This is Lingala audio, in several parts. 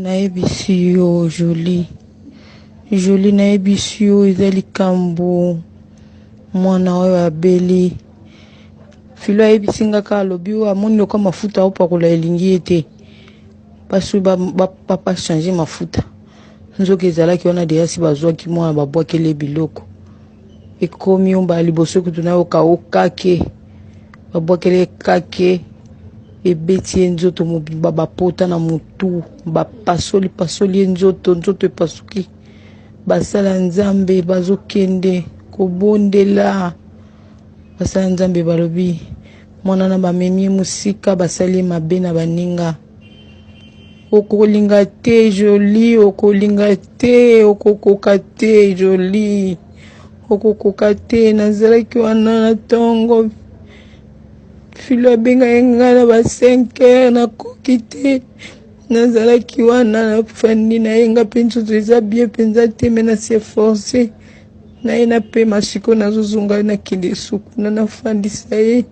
nayebisi yo joli joli nayebisi yo eza likambo mwana oyo abeli filo ayebisi nga ka alobi oyo amoni loka mafuta aopakola elingi ye te basi bapa change mafuta nzoka ezalaki wana deyasi bazwaki mwana babwakeli ye biloko ekomi ombala liboso kutu nayoka o kake babwakeli ye kake ebeti ye nzoto mobimba bapota na motu bapasoli pasoli ye nzoto nzoto epasuki basala nzambe bazokende kobondela basala nzambe balobi mwana na bamemi ye mosika basali ye mabe na baninga okolinga te joli okolinga te okokoka te joli okokoka te nazalaki wana na ntongo filo abengaki ngai na ba 5 heures nakoki te nazalaki wana nafandi na ye nga mpe nzoto eza bie mpenza te me na se force na ye napema siko nazozonga nakende sukuna nafandisa ye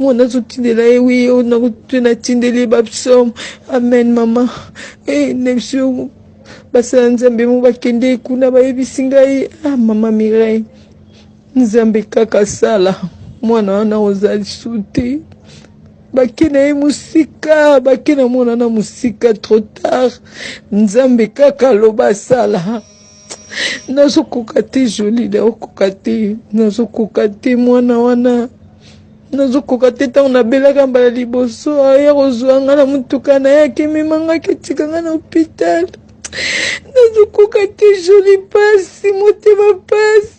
ngo nazotindela ye wi oyo nakutu natindeli ye bapsaume amen mama e na biso basala nzambe mo bakende kuna bayebisi ngai ah mama mireille nzambe kaka sala mwana wana oza lisu te bake na ye mosika bake na mwana na mosika trop tard nzambe kaka aloba asala nazokoka te joli naokoka te nazokoka te mwana wana nazokoka te ntango nabelaka mbala liboso aya kozwa nga na motuka na ye akemema nga aketika nga na hopitale nazokoka te joli mpasi motema mpasi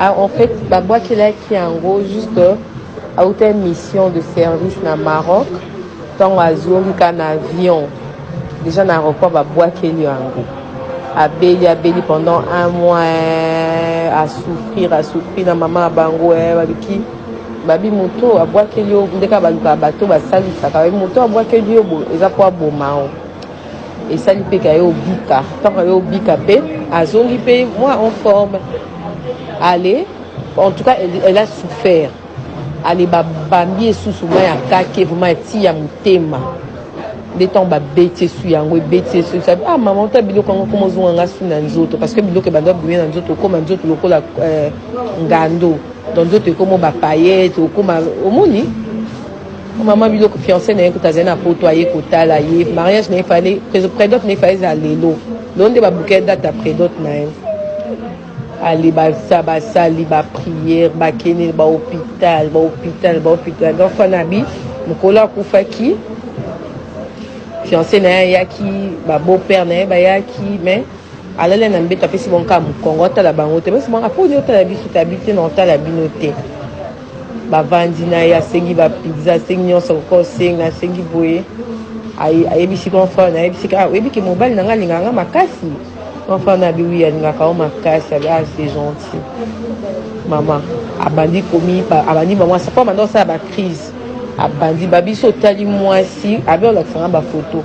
Ah, en fait, babwakelaki yango juste auta euh, mission de service na Maroc ntango azongi ka na avion déjà na aéroport babwakeli yango abeli abeli pendant un mois eh, asouffrir asouffrir na mama ya bango eh, babiki babi moto abwakeli yo ndeka balukaka bato basalisaka moto abwakeli yo eza mpo aboma yo esali mpe kaye obika ntango aye obika mpe azongi mpe mwa en forme ale en tout cas elle, elle a souffert ale babambi esusu mwa ya kake vraimen eti ya motema nde ntango babeti esu yango ebeti esu esabi ah mama ota biloko yango koma ozonga nga su na nzoto parce que biloko ebanda bouye na nzoto okoma nzoto lokola euh, ngando donc nzoto ekoma bapayete okoma omoni Maman biloko fiancé na ye kutu azali na poto aye kotala ye mariage na ye fale predot na ye fale eza lelo lelo nde babuke date ya predot na ye ale basali bapriere bakende bahopital bahopital bahopital donc fanabi mokolo akufaki fiancé na ye ayaki babeau père na ye bayaki mais alali na mbeto apesi bonka mokongo atala bango te basi bonka mpo ni otala biso te abi te na otala bino te bavandi na ye asengi ba pizza asengi nyonso akoka osenga asengi boye ayebisi grand frère na ayebisi kaka oyebi ke mobali na ngai alingaka ngai makasi grand frère na abi wi alingaka yo makasi abi ah c'est gentil mama abandi komi abandi mama mwasi po abanda kosala bacrise abandi babiso otali mwasi abi olakisanga bafoto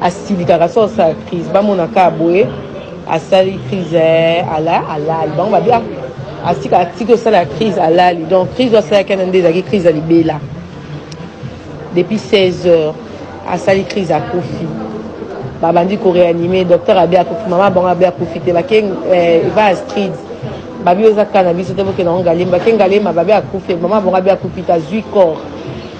asilikaka so asala crise bamona kaka boye asali crise eh, ala alali bango babi ah, asika atiki osala crise alali donc crise asalaki ana nde ezalaki crise ya libela depuis 16 heures asali crise akufi babandi koreanime docteur abi akufi mama bango abi akufi te bake eh, eva astrid babi oza kaka na biso te bokenda ngo ngalemba ke ngalema babi akufi mama bango abi akufi te azwi corps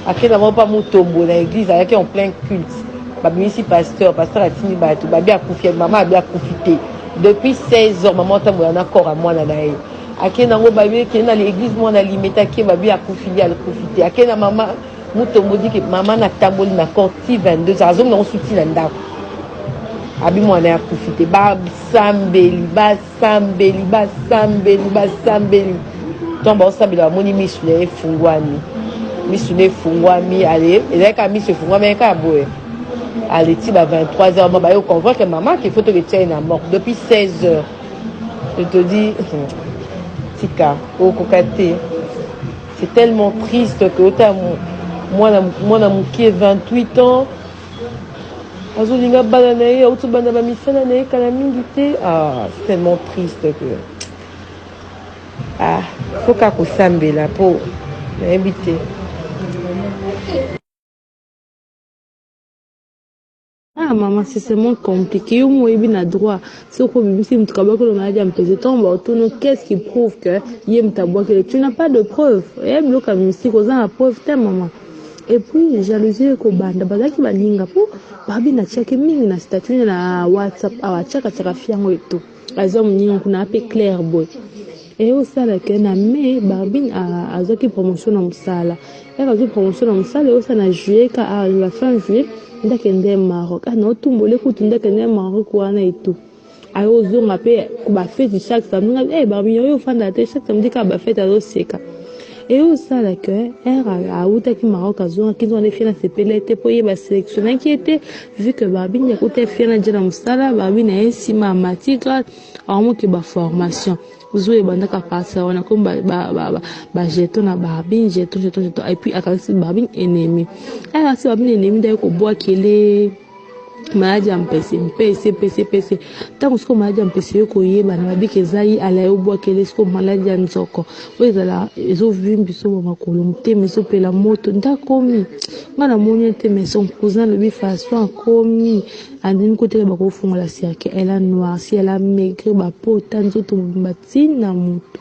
akenda moko pa mutombo na eglise ayaki en plein culte babimisi pasteur pasteur atindi bato babi akufi mama abi akufi te depuis 16 heures mama atambola na corps ya mwana na ye akenda yango babi ekende na l'église mwana alimetaki ye babi akufi ye akufi te akenda mama mutombo dike mama natamboli na corps ti 22 heures azongi nango suti na ndako abi mwana ya akufi te basambeli bas basambeli basambeli basambeli ntango baosambela bamoni misu na ye efungwami misu na efungwami ale ezali kaka misu efungwami ye kaka boye ale ti ba 23 heures ma baye oconvoque mama ke faut toketia ye na morte depuis 16 heures je te dis tika okoka te c'est tellement triste que ota mwana moke 28 ans azolinga bana na ye auti banda bamisala na ye kala mingi te ah, tellement triste que ah, faut kaka kosambela mpo nayebi te ah mama c'est seulement compliqué yo mo oyebi na droit soki obimisi moto kabwaki lo maladi ya mpese ntongo baotono qu'est-ce qui prouve que ye moto abwakele tu n'as pas de preuve eya biloko ya mystique oza na preuve te mama et puis jalousie ekobanda bazalaki baninga mpo babi natiaki mingi na statut na whatsapp awa atiakatiaka fi yango etu aza moninga kuna ape claire boye eye osala ke na mai barbine azwaki promotion na mosala yaka azwi promotion na mosala eosala na juillet ka awa na fin juillet ndakende maroc ana ah, otumbole kutu ndakende maroc wana etu ayo ozonga mpe bafeti chaque samedi nga eh, barbini oyo ofanda te chaque samedi kaka bafeti azoseka eye osala ke ere awutaki maroc azongaki nzonga nde fiana asepeli ete mpo ye baselektionaki ye te vu ke barbini akuta fiana je na mosala barbini aye nsima ya matigra aomoke baformation zo ebandaka parti ya wana komi bajeton na barbine jeton jeton jeton epuis akanisi barbine ennemi akanisi barbine ennemi nde aye kobwakele maladi ya mpese mpese mpese mpese ntango sikoyo maladi ya mpese yo koyebana babiki eza ye ala yo bwakele sikoyo maladi ya nzoko oyo ezala ezovimbi so ba makolo motema ezopela moto nde akomi ngai namoni ete mais son cousin alobi façon akomi andimi koteka bakofungola cirque elle a noirci elle a maigre bapota nzoto mobimba ntina moto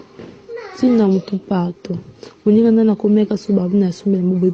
ntina moto partout moninga ngai nakomi yaka so babi na sombe na boboye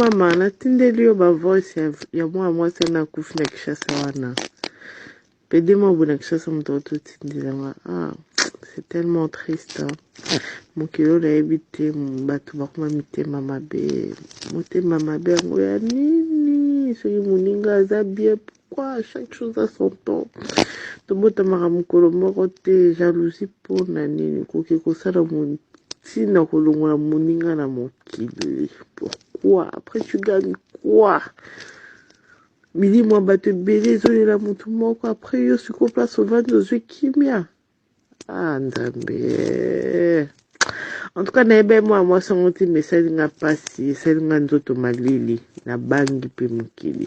Mama natindeli yo ba voice ya, ya mwana mwasi wana akufi na Kishasa wana pede mwa boye na Kishasa moto auti otindela nga ah, c'est tellement triste hein. mokili oyo nayebi te bato bakoma mitema mabe motema mabe yango ya nini soki moninga aza bien pourquoi chaque chose a son temps tobotamaka mokolo moko te jalousie mpo na nini koke kosala ntina kolongola moninga na mokili pourquoi après tu gagne quoi milimo ya bato ebele ezolela motu moko après yo sikoyo place ovandi ozwi kimia ah nzambe en tout cas nayebi mwana mwasi yango ntina esali nga mpasi esali nga nzoto malili na bangi mpe mokili